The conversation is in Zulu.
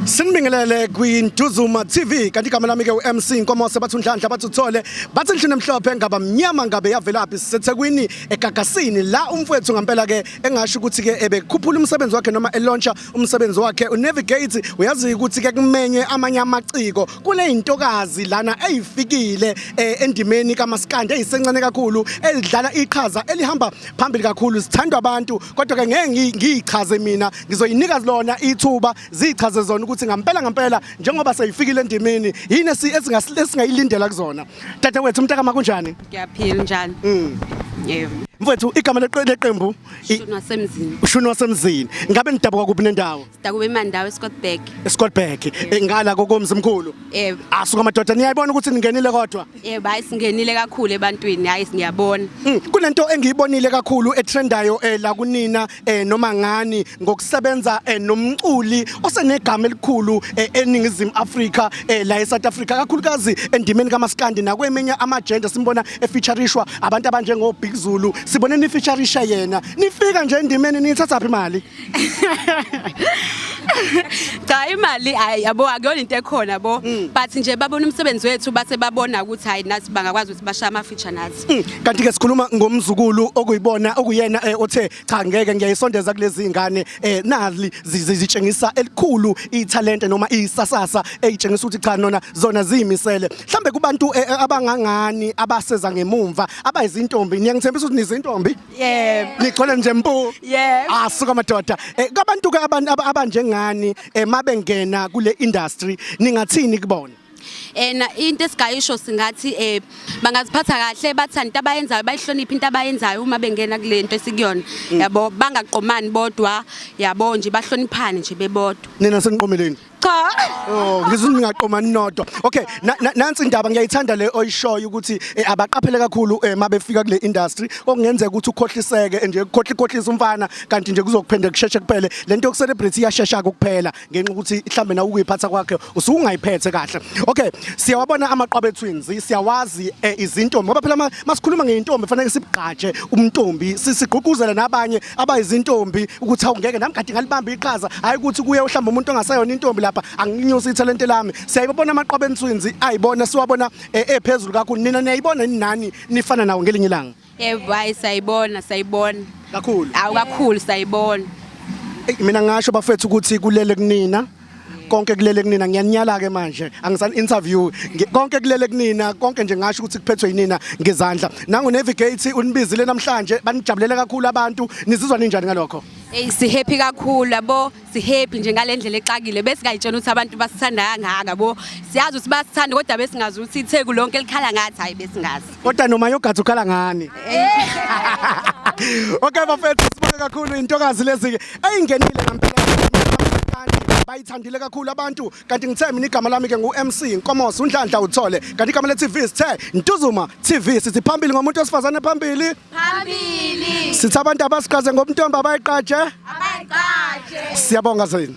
Sinibingelele kwiNtuzuma TV kanti igama lami ke uMC Nkomo sebathi unhlanhla bathi uthole bathi nhlini emhlophe ngaba mnyama ngabe yavelaphi sisethekwini egagasini la umfowethu ngampela ke engasho ukuthi ke ebekhuphula umsebenzi wakhe noma elauncha umsebenzi wakhe unavigate uyazi ukuthi ke kumenye amanye amaciko kuneyintokazi lana eyifikile eh, endimeni kamaskande eyisencane kakhulu elidlala iqhaza elihamba phambili kakhulu sithandwa abantu kodwa ke ngeke ngiyichaze mina ngizoyinika lona ithuba zichaze zona ukuthi ngampela ngampela njengoba seyifikile endimini yini esingayilindela kuzona tata wethu umntakama kunjani ngiyaphila njani mm. yebo mfethu igama leqembu ushuni wasemzini ushuni wasemzini ngabe nidabuka kuphi nendawo sidakuba emandawo eScottburg eScottburg eh, ngala kokomzi mkhulu yebo asuka madoda niyayibona ukuthi ningenile kodwa yebo hayi singenile kakhulu ebantwini hayi siyabona hmm, kunento engiyibonile kakhulu etrendayo eh, la kunina eh noma ngani ngokusebenza eh, nomculi osenegama elikhulu eh, eningizimu Afrika eh, la eSouth Africa kakhulukazi endimeni kamaskandi nakweminye amagender simbona efeaturishwa abantu abanjengo Big Zulu sibone nifeaturisha yena nifika nje endimeni nithatha phi imali cha imali ayi yabo akuyona into ekhona bo but nje babona umsebenzi wethu base babona ukuthi hayi nathi bangakwazi ukuthi bashaya ama feature nathi Mm, kanti ke sikhuluma ngomzukulu okuyibona okuyena eh, othe cha ngeke ngiyayisondeza kulezi ngane eh, nali zitshengisa elikhulu ithalente noma isasasa eyitshengisa ukuthi cha nona zona ziyimisele mhlambe kubantu eh, abangangani abaseza ngemumva abayizintombi niyangithembisa ukuthi nizintombi yebo nigcwele nje mpu yebo asuka ah, madoda kabantu ke abantu abanjengani mabengena kule industry ningathini kubona and eh, into esigayisho singathi eh bangaziphatha kahle bathanda into abayenzayo bayihloniphe into abayenzayo uma bengena kule nto esikuyona mm. yabo bangaqomani bodwa yabo nje bahloniphane nje bebodwa nina seniqomeleni cha oh ngizwe ngingaqomani nodwa okay nansi indaba ngiyayithanda le oyishoyo ukuthi eh, abaqaphele kakhulu eh, mabefika kule industry okungenzeka ukuthi ukhohliseke nje ukhohlikhohlisa umfana kanti nje kuzokuphendeka kusheshe kuphele lento yokucelebrate iyashesha kuphela ngenxa ukuthi mhlambe na ukuyiphatha kwakhe usungayiphethe kahle okay siyawabona amaqwabe twins siyawazi eh, izintombi ngoba phela masikhuluma ngeintombi fanele sibugqaje umntombi sigqugquzele nabanye abayizintombi ukuthi awungeke nami kade ngalibamba iqhaza hayi ukuthi kuye uhlamba umuntu ongasayona intombi lapha anginyusi ithalente lami siyayibona amaqwabe twins ayibona siwabona eh, ephezulu kakhulu nina niyayibona nani nifana nawo ngelinye ilanga Yebo hayi sayibona sayibona. Kakhulu. Awu kakhulu sayibona. Ey, mina ngasho bafethu ukuthi kulele kunina konke kulele kunina ngiyaninyala ke manje angisani interview Ngi- konke kulele kunina konke nje ngasho ukuthi kuphethwe yinina ngezandla nangu navigate unibizile namhlanje banijabulele kakhulu abantu nizizwa ninjani ngalokho Ey si happy kakhulu yabo sihappy nje ngale ndlela exakile besingayitshena ukuthi abantu basithanda kangaka bo siyazi ukuthi basithanda kodwa besingazi ukuthi itheku lonke likhala ngathi hayi besingazi kodwa noma yogathi ukhala ngani okay bafethu sibonge kakhulu intokazi lezi-ke eyingenile ngampela bayithandile kakhulu abantu kanti ngithe mina igama lami ke ngu-mc nkomosi unhlanhla uthole kanti igama le-tv sithe ntuzuma tv sithi phambili ngomuntu wesifazane phambili phambili sithi abantu abasiqaze ngobuntombi abayiqaje abayiqaje siyabonga zini